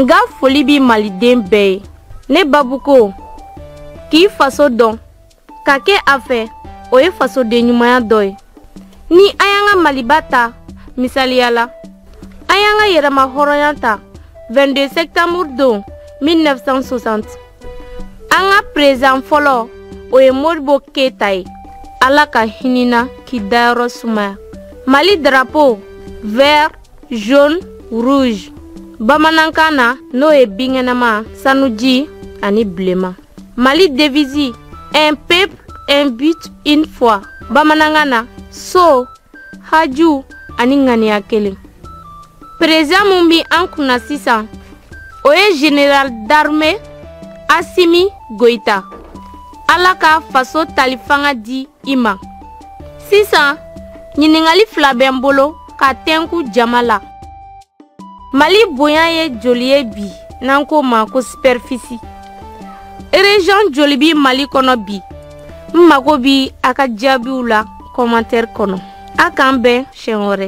n ka foli bi maliden bɛɛ ye ne babu ko k'i faso dɔn ka kɛ a fɛ o ye fasoden ɲumanya dɔ ye ni an y'an ka maliba ta misaliya la an y'an ka yɛrɛmahɔrɔnya ta 22 septembre don 1960 an ka perezan fɔlɔ o ye modibo keyita ye ala ka hin'i na k'i dayɔrɔ sumaya mali darapo vert jaune rouge bamanankan na n'o ye binkɛnɛma sanuji ani bilema mali devisi un peuple un but une foi bamanankan na so haju ani ŋaniya kelen perezan min bi an kunna sisan o ye général d'armée asimi goyita ala ka faso tali fanga di i ma sisan ɲininkali fila bɛ n bolo ka tɛnku jama la mali bonya ye joli ye bi n'an k'o ma ko sipɛrifisi ereziyɔn joli bi mali kɔnɔ bi n mago bi a ka jaabiw la kɔmantɛri kɔnɔ a k'an bɛn siɲɛ wɛrɛ